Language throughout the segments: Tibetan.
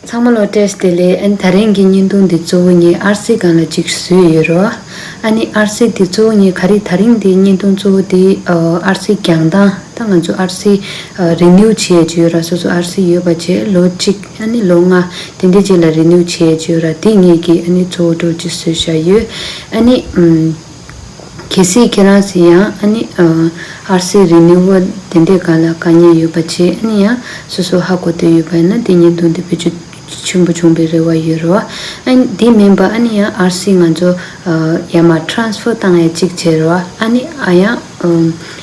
ཚང་མ་བློ་བྲལ་བདེ་ལེགས་ཨན་ད་རིང་གི་བརྙན་ཐུང་འདི་གཙོ་བོ་ངས་ཨར་སིག་སྒང་ལ་ཅིག་བཟོས་ཡོད་རོ། ཨ་ནི་ཨར་སིག་འདི་གཙོ་བོ་ངས་ག་རིག་ད་རིང་འདི་བརྙན་ཐུང་གཙོ་བོ་འདི་ཨར་སིག་གྱང་དང་ད་ང་ཚོ་ཨར་སིག Renew བྱས་ཡོད་ཅེས་ཡོད་ར་སོ་སོ་ཨར་སིག་ཡོད་པ་བཅས་ལོ་གཅིག་ཨ་ནི་ལོ་ལྔ་དེ་འདྲའི་རྗེས་ལ Renew བྱས་ཡོད་ཅེས་ཡོད་ར་འདི་ངས་ཀྱིས་ཨ་ནི་གཙོ་བོ་གྲོགས་ཀྱིས་བཟོས་བཞག་ཡོད་ཨ་ནི། གལ་སྲིད་ཁྱེད་རང་ཚོས་ཡང་ཨ་ནི། ཨར་སི་རི་ནི་བོ་དེ་འདྲའི་ག་ལ་དཀའ་ཉེན་ཡོད་པ་ཆེ་ཨ་ནི་ཡང་སོ་སོ་ཧ་གོ་འདོད་ཡོད་པ་ཡིན་ན་དེ་ཉིན་ཐུག་འདི་བོད་ཆུ་ཆེན་པོ་བྱུང་པའི་རེ་བ་ཡོད་རེ་བ་ཨ་ནི་དེ་མིན་པ་ཨ་ནི་ཡང་ཨར་སི་ང་ཚོ་ཡ་མ Transfer བཏང་ཡ་གཅིག་བྱེད་རེ་བ་ཨ་ནི་ཨ་ཡང་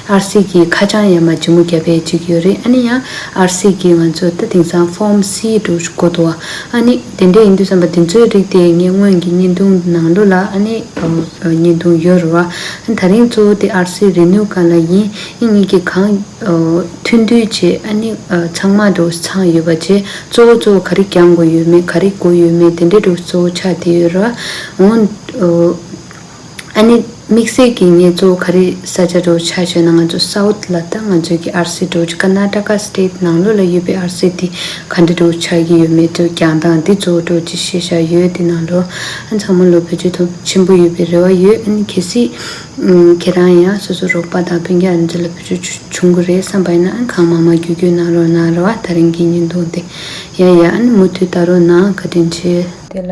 ཨར་སིག་གིས་ཁ་བྱང་ཡ་མ་ལྗིད་མོ་བརྒྱབ་པའི་ཅིག་ཡོད་རེད་ཨ་ནི་ཡང་ཨར་སིག་གིས་ང་ཚོ་ད་དེང་སང་ཧྥོམ་སི་འགྲོ་དགོས་འདུག་ཨ་ནི་དེ་འདྲས་ཡིན་དུས་བསམ་པ་འདི་ཚོའི་རིགས་དེ་ངས་སྔོན་གྱི་བརྙན་ཐུང་ནང་ལུས་ལ་ཨ་ནི་བརྙན་ཐུང་ཡོད་རེད་བ་ཨ་ནི་ད་རིང་གཙོ་བོ་དེ་ཨར་སིག་རེད་ནུས་ག་ལ་ཡིན་ཨི་གཉིས་ཀྱི་གང་མཐུན་འདུས་བྱས་ཨ་ནི་ཚང་མ་འགྲོ་ཚང་ཡོད་པ་བྱས་གཙོ་བོ་གཙོ་བོ་ག་རིགས་གྱང་དགོས་ཡོད་མེད་ག་རིགས་དགོས་ཡོད་མེད་དེ་འདྲས་འགྲོ་གཙོ་བོ་ཆ་དེ་ཡོད་རེད་བ་ཨོ། ཨ་ནི་དམིགས་བསལ་གྱི་ངེད་ཚོ་ག་རེ་ས་ཆ་འགྲོ་ཆ་བྱོས་ན་ང་ཚོ South ལ་ལྟ་ང་ཚོའི་གི་ཨར་སི་འགྲོ་ཆ Karnataka State ནང་ལོགས་ལ་ཡོད་པའི་ཨར་སི་དེ་ག་འདྲ་འགྲོ་ཆ་གི་ཡོད་མེད་ཐོས་ཀྱང་དང་འདི་ཚོ་འགྲོ་ཅི་ཤེས་ཤ་ཡོད་དེ་ནང་ལོགས་ཨ་མཚང་མོ་ལོ་བོད་ཆོས་ཐོབ་ཆེན་པོ་ཡོད་པའི་རེ་བ་ཡོད་ཨ་ནི་གལ་སྲིད་ཁྱེད་རང་ཡང་སོ་སོ་རོགས་པ་དང་བོན་རྒྱ་རིན་ཚོ་ལ་བོད་ཆོས་བྱུང་གི་རེད་བསམ་པ་ཡིན་ན་ཨ་ནི་གང་མང་མང་གྱོད་གྱོད་གནང་རོགས་གནང་རེ་བ་ད་རིང་གི་ཉིན་ཐུང་དེ་ཡ་ཡ་ཨ་ནི་མུ་མཐུད་ལྟ་རོགས་གནང་བཀའ་དྲིན་ཆེ། དེ་ལ།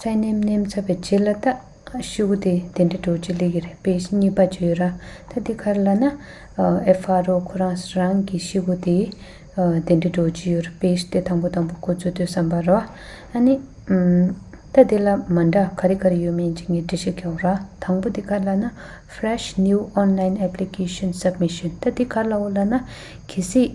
ཚད་ནེམ་ནེམ་ཚ་བའི་རྗེས་ལ་ད་ཤི་བོ་དེ་དེ་འདྲ་འགྲོ་རྒྱུ་ལེགས་རེད་པས་གཉིས་པ་བརྗོད་ར་ད་དེ་གར་ལ་ན་ཨེ་ཕ་རོ་ཁོ་རང་རང་གི་ཤི་བོ་དེ་དེ་འདྲ་འགྲོ་རྒྱུ་ཡོད་རེད་པས་དེ་དང་པོ་དང་པོ་ཁོ་ཚོས་དོན་བསམ་པར་རོ། ཨ་ནི། ད་དེ་ལ་མ་འདྲ་ག་རེ་ག་རེ་ཡོད་མིན་གྱི་ངས་འདྲི་ཤེས་ཀྱང་ར་དང་པོ་དེ་གར་ལ་ན Fresh New Online Application Submission ད་དེ་གར་ལའོ་ལ་ན་གལ་སྲིད།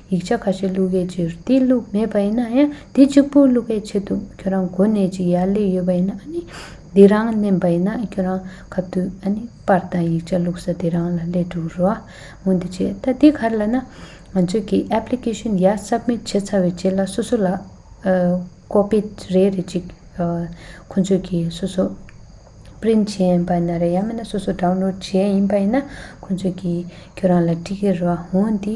ཡིག་ཆ་ཁ་ཤས་བླུག་སྐད་ཆེ་རུ་དེ་བླུག་མེད་པ་ཡིན་ན་ཡང་དེ་གཅིག་པུ་བླུག་སྐད་ཆེ་འདུག་ཁྱོད་རང་གོ་གནས་ཅིག་ཡར་ལས་ཡོད་པ་ཡིན་ན་ཨ་ནི་དེ་རང་བསྣན་པ་ཡིན་ན་ཁྱོད་རང་གབ་ཏུ་ཨ་ནི་པར་དང་ཡིག་ཆ་བླུག་ས་དེ་རང་ལ་ལས་འགྲོ་རུ་འོང་འདི་བྱེད་ད་དེ་གར་ལ་ན་ང་ཚོས་ཀྱི Application ཡར Submit བྱེད་ཚར་བའི་རྗེས་ལ་སོ་སོ་ལ Copy རེ་རེ་ཅིག་ཁོ་ཚོས་ཀྱི་སོ་སོ Print བྱས་ཡིན་པ་ན་རེ་ཡང་མིན་ན་སོ་སོ Download བྱས་ཡིན་པ་ཡིན་ན་ཁོ་ཚོས་ཀྱི་ཁྱོད་རང་ལ་འབྲི་གི་རུ་འོང་འདི།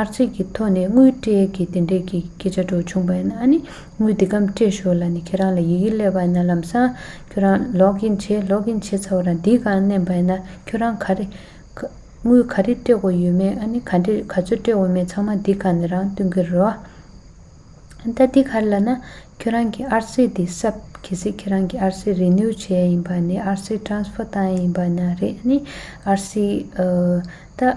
ཨར་ཚིགས་ཀྱི་ཐོག་ནས་དངུལ་སྤྲད་ཀྱི་དེ་འབྲེལ་གྱི་སྐད་ཆ་སྒྲོག་བྱུང་བས་ན་ནི་དངུལ་འདི་གམ་སྤྲད་ཞོར་ལ་ནི་ཁྱེད་རང་ལ་ཡི་གེ་སླེབས་པ་ན་ལམ་སང་ཁྱོད་རང་ལོག་གིན་བྱེད་ལོག་གིན་བྱེད་ཚར་བ་དང་འདི་གང་མནན་པ་ཡིན་ན་ཁྱོད་རང་ག་རེ། དངུལ་ག་རེ་སྤྲད་དགོས་ཡོད་མེད་ཨ་ནི་ག་འདྲེ་ག་ཚོད་སྤྲད་འོས་མེད་ཚང་མ་འདི་ག་ནས་རང་བསྟུན་གི་རེད། ད་འདི་ག་རེ་ལ་ན་ཁྱོད་རང་གི་ཨར་ཚིགས་འདི་གསབ་གི་སྲིད་ཁྱེད་རང་གི་ཨར་ཚིགས་རེ་ནུའུ་བྱས་ཡིན་པ་ནི་ཨར་ཚིགས Transfer བཏང་ཡིན་པ་ན་རེ་ཨ་ནི་ཨར་ཚིགས་ཨ་ད།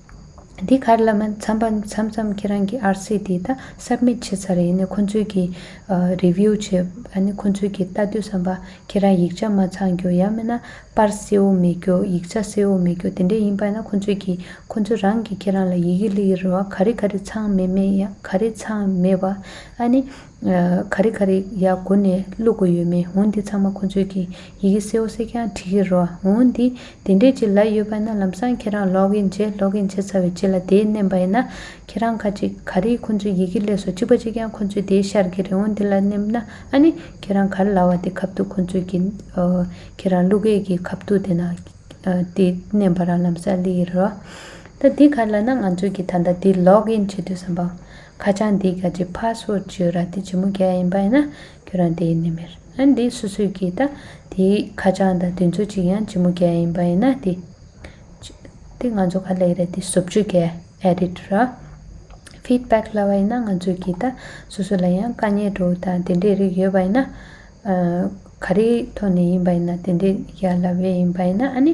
འདི་གར་བླ་མ་མཚམས་པ་མཚམས་མཚམས་ཁྱེད་རང་གི་ཨར་སི་དེ་ད་སབ་མིད་བྱེད་ཚར་ཡིན་ནའི་ཁོ་ཚོས་ཀྱི་རེ་བྷིའུ་བྱེད་ཨ་ནི་ཁོ་ཚོས་ཀྱི་ལྟ་དུས་བསམ་པ་ཁྱེད་རང་ཡིག་ཆ་མ་ཚང་རྒྱུ་ཡང་མིན་ན་པར་སེའུ་མེད་རྒྱུ་ཡིག་ཆ་སེའུ་མེད་རྒྱུ་དེ་འདྲས་ཡིན་པ་ན་ཁོ་ཚོས་ཀྱི་ཁོ་ཚོ་རང་གི་ཁྱེད་རང་ལ་ཡི་གེ་ལི་ཡི་རུ་བ་ག་རེ་ག་རེ་ཚང་མེད་མེད་ཡང་ག་རེ་ཚང་མེད་བ་ཨ་ནི་ག་རེ་ག་རེ་ཡ་གོ་ནས་བླུག་དགོས་ཡོད་མེད་འོན་འདི་ཚང་མ་ཁོ་ཚོས་ཀྱི་ཡི་གེ་སེའོ་སེ་ཀྱང་བྲི་གི་རོ་འོན་འདི་དེ་འདྲས་ཀྱི་ལ་ཡོད་པ་ན་ལམ་སང་ཁྱེད་རང་ལོག་གིན་བྱེད་ལོག་གིན་བྱེད་ཚར་བའི་རྗེས་ལ་དེའི་མནན་པ་ཡིན་ན་ཁྱེད་རང་ཁ་ཅིག་ག་རེ་ཁོ་ཚོས་ཡི་གེ་ཀླད་སོ་གཅིག་པ་གཅིག་ཀྱང་ཁོ་ཚོས་དེའི་ཤར་གྱི་རེ་འོན་འདི་ལ་མནན་ན་ཨ་ནི་ཁྱེད་རང་གར་ལ་བ་དེ་ཁབ་ཐུག་ཁོ་ཚོས་ཀྱི་ཁྱེད་རང་བླུག་གས་ཀྱི་ཁབ་ཐུག་དེ་ན་དེ་མནན་པ་རང་ལམ་སར་བླི་གི་རོ། ད་འདི་གར་ལ་ན་ང་ཚོས་ཀྱི་ད་ལྟ་འདི་ལོག་གིན་བྱེད་དུས་སམ་པ། ཁ་བྱང་འདི་ག་གི་ཕ་སོ་ཅི་ར་དེ་ཇི་མོ་རྒྱ་ཡིན་པ་ཡིན་ན་ཁྱོད་རང་དེའི་ནི་མེར་ཨན་དེ་སུ་སུ་གི་ད་དེའི་ཁ་བྱང་དང་དེ་ཚོ་གཅིག་ཡང་ཇི་མོ་རྒྱ་ཡིན་པ་ཡིན་ན་དེ་དེ་ང་ཚོ་ག་ལེགས་རེད་དེ་ཟོབ་ཅུ་རྒྱ edit ར feedback ལ་བ་ཡིན་ན་ང་ཚོ་གི་ད་སུ་སུ་ལ་ཡང་དཀའ་ཉེ་དྲོ་དང་དེ་འདྲའི་རིགས་ཡོད་པ་ཡིན་ན་ག་རེའི་ཐོག་ནས་ཡིན་པ་ཡིན་ན་དེ་འདྲའི་རྒྱ་ལ་བས་ཡིན་པ་ཡིན་ན་ཨ་ནི།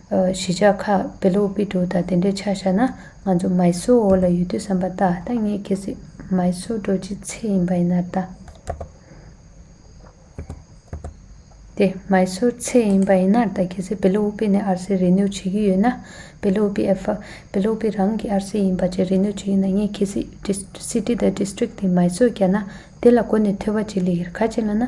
གཞིས་ཆགས་ཁག་བེ་ལུག་པི་ཏུ་དང་དེ་འདྲས་ཆགས་བཞག་ན་ང་ཚོ་མཱི་སོའོ་ཨོ་ལ་ཡོད་དུས་བསམ་པ་ལྟ་ད་ངས་གལ་སྲིད་མཱི་སོའོ་འགྲོ་བྱེད་ཚེ་ཡིན་པ་ཡིན་ན་ད། དེ་མཱི་སོའོ་ཚེ་ཡིན་པ་ཡིན་ན་ད་གལ་སྲིད་བེ་ལུག་པི་ནས་ཨར་སེ་རེ་ནུས་བྱེད་ཀྱི་ཡོད་ན་བེ་ལུག་པི་ཨེ་ཕ། བེ་ལུག་པི་རང་གི་ཨར་སེ་ཡིན་པ་བཅས་རེ་ནུས་བྱེད་ཀྱི་ན་ངས་གལ་སྲིད་སི་ཏི་དང་སྡེ་སྟྲིག་དེ་མཱི་སོའོ་བརྒྱབ་ན་དེ་ལ་གོ་ནས་ཐོས་པ་བྱེད་ལས་ཁ་ཅིག་ལ་ན།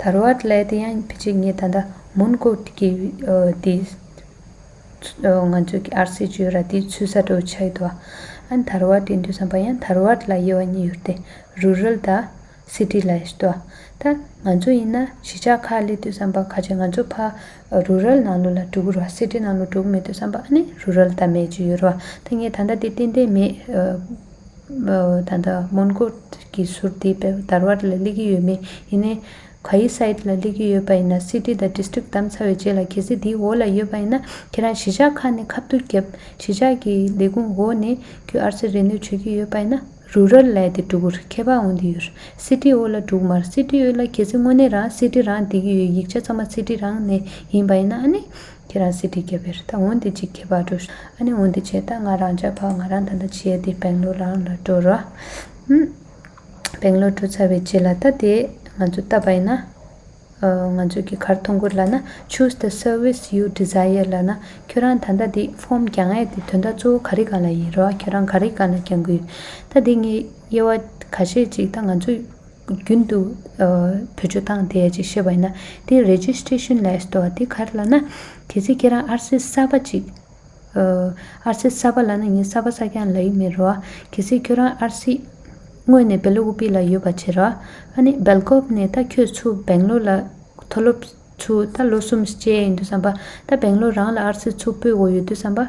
དར་བ་ལས་དེ་ཡང་ཕི་ཅིག་ངས་ད་ལྟ་མོན་གོ་ཀི་དེ་ང་ཚོ་གི་ཨར་སེ་ཇོས་ར་དེ་ཚུ་ས་དྲོ་ཆགས་ཡོད་དོ་ཨ་དར་བ་དེ་འདུས་བསམ་པ་ཡང་དར་བ་ལ་དབྱེ་བ་གཉིས་ཡོད་དེ Rural དང City ལ་ཡོད་དོ་ད་ང་ཚོ་ཡིན་ན་གཞིས་ཆགས་ཁག་ལས་དུས་བསམ་པ་ཁ་ཆེ་ང་ཚོ་ཕ Rural ནང་ལོ་ལ་དྲུག་རོ City ནང་ལོ་དྲུག་མེད་དུས་བསམ་པ་ཨ་ནི Rural དར་མེད་ཅིག་ཡོད་རོ་ད་ངས་ད་ལྟ་དེ་ཏན་ཏན་མེད། ད་ལྟ་མོན་གྷོ་གི་ཟུར་དེ་དར་བ་ལ་སླེབས་ཀྱི་ཡོད་མེད་ཡིན་ནའི། ག་ཡི་སའི་ལ་སླེབས་ཀྱི་ཡོད་པ་ཡིན་ན City དང District གདམ་ཚར་བའི་རྗེས་ལ་གལ་སྲིད་དེའི་འོག་ལ་ཡོད་པ་ཡིན་ན་ཁྱེད་རང་གཞིས་ཆགས་ཁག་ནས་ཁ་བསྡུར་བརྒྱབ་གཞིས་ཆགས་ཀྱི་ལས་ཁུངས་འོག་ནས་ཁྱོད་ཨར་ཚེ་རེ་ནོས་བྱོས་ཀྱི་ཡོད་པ་ཡིན་ན Rural ལས་དེ་སྒྲུག་གུར་ཁྱད་པར་འོང་དུ་ཡོད City འོག་ལ་སྒྲུག་མར City འོག་ལ་གལ་སྲིད་དངོས་གནས་རང City རང་བསྡད་ཀྱི་ཡོད་ཡིག་ཆ་ཚང་མ City རང་ནས་ཡིན་པ་ཡིན་ན་ཨ་ནི། ཁྱེད་རང་སྲིད་ཁྲི་རྒྱལ་བའི་རི་དྭགས་འོན་ཏེ་ཅིག་ཁྱད་པར་འགྲོ། ཨ་ནི་འོན་ཏེ་བྱས་ད་ང་རང་ཅག་ཕག་ང་རང་ད་ལྟ་བྱས་ཏེ་བེང་ལོ་རང་ལ་འགྲོ། ར་ཧུ། བེང་ལོ་འགྲོ་ཚར་བའི་རྗེས་ལ་ད་དེ་ང་ཚོ་བལྟ་བ་ཡིན། ང་ཚོས་ཀྱི་ཁར་ཐོ་འགོད་ལ་ན choose the service you desire ལ་ན་ཁྱོད་རང་ད་ལྟ་དེ་ཧྥོམ་རྒྱག་ངེས་ཏེ་དོན་དག་གཙོ་བོ་ག་རི་ག་ལ་ཡིན་ར་བ་ཁྱོད་རང་ག་རི་ག་ན་རྒྱང་གི་ཡོད། ད་དེ་ངའི་དབྱེ་བ་ག་ཤེད་ཅིག་ད་ང་ཚོས། རྒྱུན་དུ་བོད་ཆོས་བཏང་སྟེ་ཅེས་བཤད་པ་ཡིན་ན་དེའི Registration List དོ་དེ་ག་རེ་ལ་ན། གལ་སྲིད་ཁྱེད་རང་ཨར་སེ་ས་པ་ཅིག་ཨར་སེ་ས་པ་ལ་ན་ངས་ས་པ་ས་སྐྱང་ལ་ཡིག་མེད་རོ། གལ་སྲིད་ཁྱོད་རང་ཨར་སེ་དངོས་ནས་བེ་ལོ་ཨུ་པི་ལ་ཡོད་པ་བྱེད་རོགས། ཨ་ནི་སྦེལ་ཀོབ་ནས་ད་ཁྱོད་ཚུ་བེང་ལོ་ལ་མཐོ་སློབ་ཚུ་ད་ལོ་གསུམ་བཅས་ཡིན་དུས་སམ་པ་ད་བེང་ལོ་རང་ལ་ཨར་སེ་ཚུ་སྤོས་འོ་ཡོད་དུས་སམ་པ།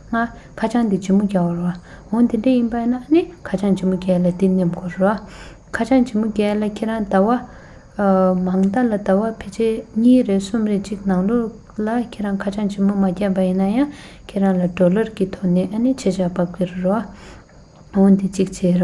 ལྔ། ཁ་བྱང་འདི་ཇི་མོ་རྒྱལ་བར་བ། འོ་འདི་འདྲ་ཡིན་པ་ན་ནི་ཁ་བྱང་ཇི་མོ་རྒྱལ་ལ་འདི་ཉམས་དགོས་ར། ཁ་བྱང་ཇི་མོ་རྒྱལ་ལ་ཁྱེད་རང་ཟླ་བ། མང་རྟ་ལ་ཟླ་བ་ཕལ་ཆེར་གཉིས་རེ་གསུམ་རེ་གཅིག་ནང་ལོ་ལ་ཁྱེད་རང་ཁ་བྱང་ཇི་མོ་མ་རྒྱལ་བ་ཡིན་ན་ཡང་ཁྱེད་རང་ལ་འགྲོ་ལར་གྱི་དོ་ནས་ནི་ཆེ་ཆག་འབབ་གི་ར། འོ་འདི་གཅིག་བྱས་ར།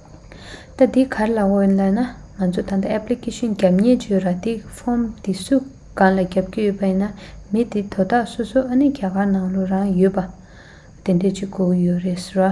ད་འདི་གར་ལ་འོན་ལ་ན་ང་ཚོ་ད་ལྟ Application རྒྱབ་གཉེར་བྱོས་ར་འདི Form འདི་སུ་གང་ལ་རྒྱབ་ཀྱི་ཡོད་པ་ཡིན་ན་མི་དེ་དོ་བདག་སོ་སོ་ཨ་ནི་རྒྱ་གར་ནང་ལོ་རང་ཡོད་པ་དེ་འདྲས་ཅིག་གོ་གི་ཡོད་རེད་ར།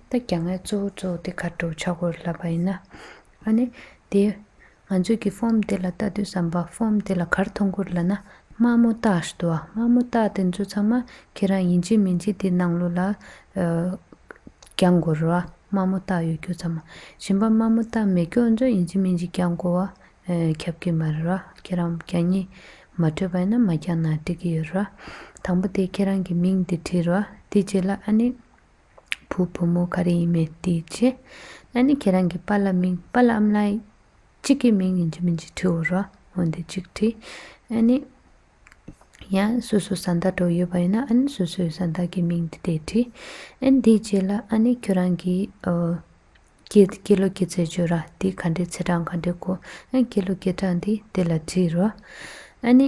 ད་རྒྱ་ངའི་གཙོ་བོ་གཙོ་བོ་དེ་གར་འགྲོ་ཆགས་སྒོར་ལབ་པ་ཡིན་ན། ཨ་ནི། དེ། ང་ཚོས་ཀྱི་ཧྥོམ་དེ་ལ་ལྟ་དུས་བསམ་པ་ཧྥོམ་དེ་ལ་གར་མཐོང་སྒོར་ལབ་ན་དམའ་མོ་རྟགས་ཞདོ་བ་དམའ་མོ་རྟགས་དེ་ཚོ་ཚང་མ་ཁྱེད་རང་ཡིན་གྱི་མིན་གྱི་དེ་ནང་ལོ་ལ། རྒྱག་མགོ་རོ། དམའ་མོ་རྟགས་ཡོད་རྒྱུ་ཚང་མ་ཞིན་པ་དམའ་མོ་རྟགས་མེད་རྒྱུ་ཨ་ཚོ་ཡིན་གྱི་མིན་གྱི་རྒྱག་མགོ་བ། ཁྱབ་ཀྱི་མ་རེད་ར་ཁྱེད་རང་རྒྱ་གཉིས། མ་འཕྲོད་པ་ཡིན་ན་མ་རྒྱག་ན་འགྲིག་གི་ཡོད་ར། དང་པོ་དེ་ཁྱེད་རང་གི་མིང་དེ་བྲིས་རོ། དེ་རྗེས་ལ་ཨ་ནི། བུ་བུ་མོ་ག་རེ་ཡིན་མེད་དེ་ཅི། ན་ནི་ཁྱེད་རང་གི་པ་ལ་མིང་པ་ལ་འམ་ལ་ཡི། གཅིག་གི་མིང་ཡིན་གྱི་མིན་གྱི་དྲི་འོ་ར་འོན་ཏེ་གཅིག་དྲི། ཨ་ནི། ཡང་སོ་སོ་ས་མཐའ་གྲོགས་ཡོད་པ་ཡིན་ན་ཨ་ནི་སོ་སོའི་ས་མཐའ་གི་མིང་དེ་དེ་དྲི། ཨན་དེ་རྗེས་ལ་ཨ་ནི་ཁྱོད་རང་གི། ཀྱེ་ཀྱེ་ལོ་ཀྱེ་ཚེ་བྱོད་ར་དེ་ག་འདྲའི་ཚེ་གྲངས་ག་འདྲའི་གོ། ཨན་ཀྱེ་ལོ་ཀྱེ་གྲངས་དེ་དེ་ལ་དྲི་རོ། ཨ་ནི།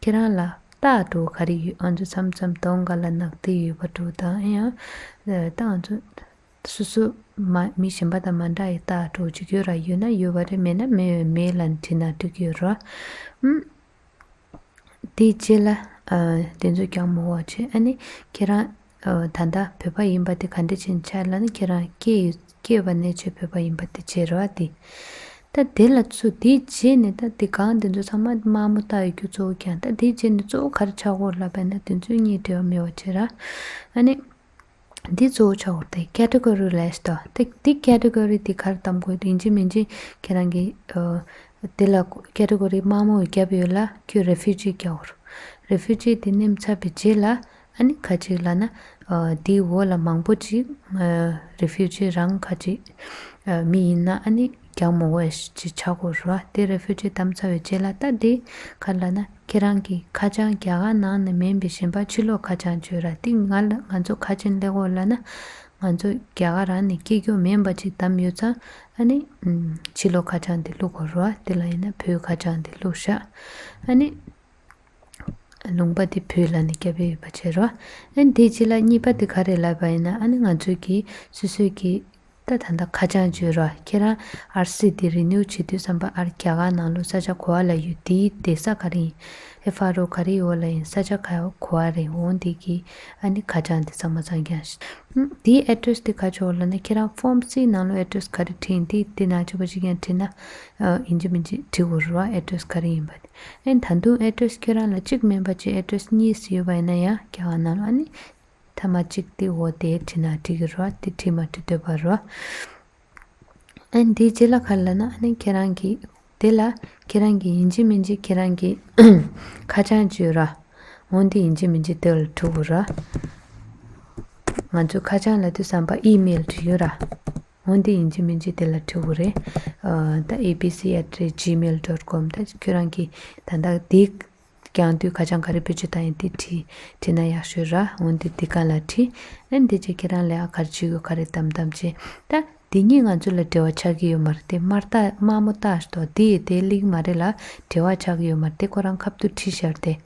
ཁྱེད་རང་ལ་རྟ་གྲོ་ག་རེ་ཡོད་ཨང་ཚོ་མཚམས་མཚམས་སྟོང་ག་ལ་ནག་ཐིག་ཡོད་པ་གྲོ་དང་ཨེ་ཨང་རྟ་ཨང་ཚོ། སོ་སོ། མ་མི་གཞན་པ་དང་མ་འདྲ་ཡི་རྟ་གྲོ་གཅིག་ཡོད་ར་ཡོད་ན་ཡོད་པ་རེད་མེད་ན་མེད་འོན་མེད་ལ་འདྲི་ན་འགྲིག་ཡོད་ར་ཨང། དེའི་རྗེས་ལ། དེ་ཚོས་ཀྱང་མོ་བ་བྱས་ཨ་ནི་ཁྱེད་རང་ད་ལྟ་བོད་པ་ཡིན་པ་དེ་ག་འདྲས་ཅན་ཆགས་ལ་ནི་ཁྱེད་རང་སྐྱེས་ཡོད་སྐྱེས་པ་ནས་ཆོས་བོད་པ་ཡིན་པ་དེ་བྱེད་རོགས་ཨ་དེ། ད་དེ་ལ་ཚུ་དེའི་རྗེས་ནས་ད་དེ་གང་དེ་ཚོ་ཚང་མ་དམའ་མོ་ལྟ་ཡོད་རྒྱུ་གཙོ་བོ་ཀྱང་ད་དེའི་རྗེས་ནས་གཙོ་བོ་ག་རེ་ཆགས་སྐོར་ལབ་པ་ན་དེ་ཚོའི་གཉིས་འབྲེལ་བ་མེད་བ་བྱེད་རགས་ཨ་ནི། དེ་གཙོ་བོ་ཆགས་སྐོར་དེ Category List ཨོ་དེ་དེ Category དེ་གར་གཏམ་དགོས་ཡིན་གཅིག་མིན་གཅིག་ཁྱེད་རང་གི་དེ་ལ Category དམའ་མོ་བརྒྱབ་ཡོད་ལ་ཁྱོད Refugee བརྒྱབ་རོགས Refugee དེ་སྣེམས་ཚར་བའི་རྗེས་ལ་ཨ་ནི་ཁ་ཅིག་ལ་ན། དེའི་འོག་ལ་མང་པོ་ཅིག། Refugee རང་ཁ་ཅིག། མི་ཡིན་ན་ཨ་ནི་རྒྱག་མོ་བས་ཅི་བྱ་གོ་རུ་ཨ་དེ Refugee དམ་ཚ་བའི་རྗེས་ལ་ལྟ་དེ། ཁ་ལ་ན་ཁྱེད་རང་གིས་ཁ་བྱང་རྒྱ་གར་ནང་ནས་མིན་པའི་ཞེན་པ་ཕྱི་ལོག་ཁ་བྱང་བཅོས་ར་དེ་ང་ལ་ང་ཚོ་ཁ་ཆེན་ལེགས་འོ་ལ་ན། ང་ཚོ་རྒྱ་གར་རང་ནས་སྐྱེས་སྐྱོ་མིན་པ་ཅིག་དམ་ཡོད་ཙང་ཨ་ནི། ཕྱི་ལོག་ཁ་བྱང་དེ་བླུག་གོ་རུ་ཨ་དེ་ལ་ཡིན་ན་བོད་ཁ་བྱང་དེ་བླུག་ཤག་ཨ་ནི། ལུང་པ་དེ་བོད་ལ་ནི་སྐྱ་བོས་ཡོད་པ་ཕྱིར་རོ། ཨན་དེའི་རྗེས་ལ་གཉིས་པ་དེ་ག་རེ་ལབ་པ་ཡིན་ན་ཨ་ནི་ང་ཚོས་ཀྱི་སུད་སུད་ཀྱི་ད་ད་ད་ཁ་བྱང་བརྗོད་རོགས་ཁྱེད་རང་ཨར་སི་དེ་རི་ནུའུ་བྱེད་དུས་བསམ་པ་ཨར་རྒྱ་གར་ནང་ལོ་ས་ཆ་གོ་བ་ལ་ཡོད་དེའི་དེ་ས་ག་རེ་ཡིན་ཨེ་ཧྥ་རོ་ག་རེའི་འོག་ལ་ཡིན་ས་ཆ་ཁ་གོ་བ་རེ་འོང་དེ་ཀྱི་ཨ་ནི་ཁ་བྱང་དེ་ཚང་མ་ཚང་ཀྱང་དེའི་ཨེ་ཏྲེས་དེ་ག་ཆོག་ལབ་ན་ཁྱེད་རང་ཧྥོམ་སིའི་ནང་ལོ་ཨེ་ཏྲེས་ག་རེ་བྲིས་ཡིན་དེའི་དེ་ནང་ཆོས་པ་ཞིག་ཀྱང་བྲིས་ན་ཨིན་ཇི་མིན་ཇི་བྲི་དགོས་རོགས་ཨེ་ཏྲེས་ག་རེ་ཡིན་པ་དེ། ཨེ་ད་དུང address ཁྱོད་རང་ལ་གཅིག་མིན་པར་གཅིག address གཉིས་ཡོད་པ་ཡིན་ན་ཡང་སྐྱ་བ་རྣམས་ཨ་ནི། ཐ་མ་གཅིག་དེ་འོ་དེ་བྲིས་ན་བྲིས་ཀྱི་རོ་དེ་བྲིས་མ་བྲིས་འདོད་པ་རོ། ཨེ་འདི་རྗེས་ལ་ཁ་ལ་ན་ཨ་ནི་ཁྱེད་རང་གིས། དེ་ལ་ཁྱེད་རང་གིས་ཡིན་གྱི་མིན་གྱི་ཁྱེད་རང་གིས་ཁ་བྱང་བཅོས་ར། འོ་འདི་ཡིན་གྱི་མིན་གྱི་དེ་ལ་འཁྲུག་གོ་ར། ང་ཚོས་ཁ་བྱང་ལ་དུས་བསམ་པ་ཨི་མེལ་བྲིས་ཡོད་ར། འོན་ཏེ་ཡིན་གྱི་མིན་གྱི་དེ་ལ་ཁྲི་བོ་རེད། ད abc at the rate gmail dot com ད་ཁྱོད་རང་གིས་ད་ལྟ་དེ་རྐྱང་དུས་ཁ་བྱང་ག་རེ་བོད་ཀྱི་ད་ཡིན་དེ་བྲིས་བྲིས་ན་ཡག་ཤོས་ར་འོན་ཏེ་དེ་ག་ལ་བྲིས་ཨེ་འདི་ཅི་ཁྱེད་རང་ལས་ཨ་གར་ཅི་ཡོད་ག་རེ་བདམས་བདམས་བྱས་ད་དེ་གཉིས་ང་ཚོ་ལ་འབྲེལ་བ་ཆགས་ཀྱི་ཡོད་མ་རེད་དེ་དམར་རྟ་དམར་མོ་རྟ་ཞེས་དོག་དེ་ཡི་དེ་གླིང་མ་རེད་ལ་འབྲེལ་བ་ཆགས་ཀྱི་ཡོད་མ་རེད་དེ་ཁོ་རང་ཁབ་ཏུ་ཁྲི་ཤར་དེ།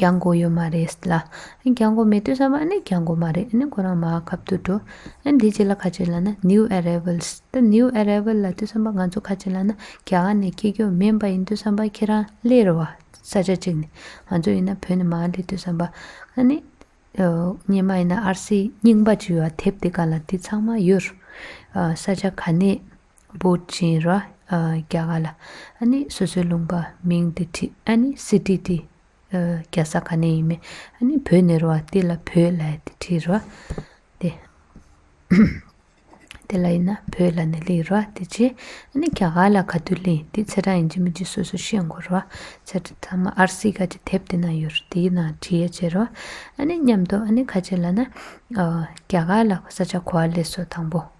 རྒྱག་མགོ་ཡོད་མ་རེད་ལ། རྒྱག་མགོ་མེད་དུས་བསམ་པ་ནི་རྒྱག་མགོ་མ་རེད་ཁོ་རང་མ་ཁབ་ཏུ་འགྲོ། འདི་ཅི་ལ་ཁ་ཆེ་ལ་ན New Arrivals ཏེ New Arrival ལ་དུས་བསམ་པ་ང་ཚོ་ཁ་ཆེ་ལ་ན་རྒྱ་གར་ནས་སྐྱེ་རྒྱུ་མིན་པ་ཡིན་དུས་བསམ་པ་ཁྱེད་རང་ལས་རེ་བ་ས་ཆ་གཅིག་ནས་ང་ཚོ་ཡིན་ན་བོད་ནས་མ་ལས་དུས་བསམ་པ་ཨ་ནི་སྙེ་མ་ཡིན་ན RC རྙིང་པ་བྱིས་བ་དེབ་དེ་ག་ལ་དེ་ཚང་མ་ཡོད་རེད། ས་ཆ་ག་ནས་པོ་ཆེན་ར་རྒྱ་ག་ལ་ཨ་ནི་སོ་སོའི་ལུང་པ་མིང་དེ་ཁྲི་ཨ་ནི་སི་ཏི་ཏི་རྒྱ་ས་ག་ནས་ཡིན་མེད་ཨ་ནི་བོད་ནས་ར་བ་ཏི་ལ་བོད་ལ་ཡ་ཏི་ཁྲི་ར་ཏི་དེ་ལ་ཡིན་ན་བོད་ལ་ནི་ལི་ར་ཏི་ཆེ་ཨ་ནི་རྒྱ་ག་ལ་ག་དུས་ལི་དེ་ཚེ་གྲངས་ཡིན་གྱི་མིན་གྱི་སོ་སོ་ཤེས་དགོས་ར་ཚེ་གྲངས་ཚང་མ་ཨར་སི་ཀ་གྱི་དེབ་དེ་ན་ཡོད་ར་དེའི་ནང་བྲིས་ཡ་བྱེད་ར་ཨ་ནི་མཉམ་དུ་ཨ་ནི་ཁ་ཆེ་ལ་ན་རྒྱ་ག་ལ་ས་ཆ་གོ་བ་ལས་སོ་དང་པོ།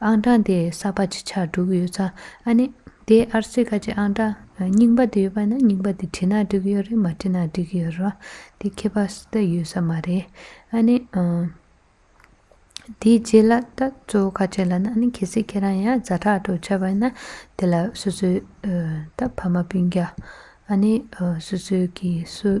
ཨང་གྲངས་དེ་གསར་པ་ཅིག་ཆགས་འགྲོ་གི་ཡོད་ཙང་ཨ་ནི། དེ་ཨར་སི་ཀ་ཅིག་ཨང་གྲངས་རྙིང་པ་དེ་ཡོད་པ་ན་རྙིང་པ་དེ་བྲིས་ན་འགྲིག་གི་ཡོད་རེད་མ་བྲིས་ན་འགྲིག་གི་ཡོད་རེད། དེ་ཁྱད་པར་སུ་དག་ཡོད་ས་མ་རེད། ཨ་ནི། དེའི་རྗེས་ལ་ད་གཙོ་བོ་ཁ་ཆེ་ལ་ན་ཨ་ནི་གལ་སྲིད་ཁྱེད་རང་ཡང་རྫ་ཁྲག་གྲོགས་ཆགས་པ་ཡིན་ན་དེ་ལ་སོ་སོའི། ད་ཕ་མ་སྤུན་རྒྱ། ཨ་ནི། སོ་སོའི་གིས་སུ།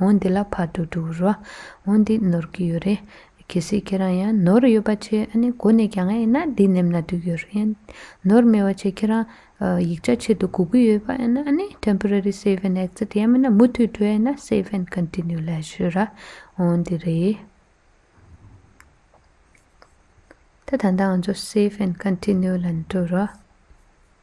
འོ་འདི་ལ་ཕར་དུ་འགྲོ་རུ་འོ་འདི་ནོར་གི་ཡོད་རེད། གལ་སྲིད་ཁྱེད་རང་ཡང་ནོར་ཡོད་པ་ཆེ་ཨ་ནི་གོ་ནས་གྱ་ང་ཡིན་ན་འདི་ནེམ་ན་འདུག་ཡོད་རེད། ནོར་མེད་བ་ཆེ་ཁྱེད་རང་ཡིག་ཆ་ཆེད་དུ་གོ་གི་ཡོད་པ་ཡིན་ན་ཨ་ནི Temporary Save and Exit ཡང་མིན་ན་མུ་མཐུད་འགྲོ་ཡ་ཡིན་ན Save and Continue ལ་གཞོལ་ར་འོ་འདི་རེད། ད་ད་ང་ཚོ Save and Continue ལ་འགྲོ་རུ།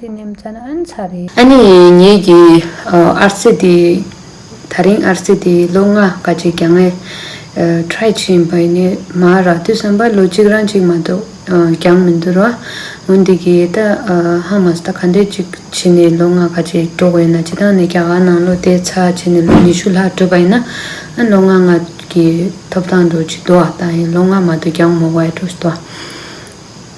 དེ་ནི་མཚན་ཨན་ཚ་རེད། ཨ་ནེ། ངེད་ཀྱི་ཨར་རྩེ་དེ། ད་རིང་ཨར་རྩེ་དེ་ལོ་ལྔ་ཀ་གཅིག་གྱང་ངས། try། བྱེད་བཞིན་པ་ཡིན་ནའི། མ་རག་དུས་བསམ་པ་ལོ་གཅིག་རང་གཅིག་མ་གཏོགས་གྱང་མི་འདུར་བ། ངོ་འདི་གི་ད་ཧ་མ་ས་ད་ག་འདྲས་ཅིག་བྱས་ནས་ལོ་ལྔ་ཀ་གཅིག་འགྲོ་དགོས་ཡིན་ན་བྱེད་སྟངས་ནི་རྒྱ་གར་ནང་ལོ་དེའི་ཚ་བྱས་ནས་ལོ་ཉི་ཤུ་ལྷག་བགྲོད་པ་ཡིན་ན། ཨ་ལོ་ལྔ་ལྔ་གི་ཐོབ་ཐང་འགྲོ་ཅི་འདུར་བ་ལྟ་ཡིན་ལོ་ལྔ་མ་གཏོགས་གྱང་མོ་བས་འགྲོ་ཅི་འདུར་བ།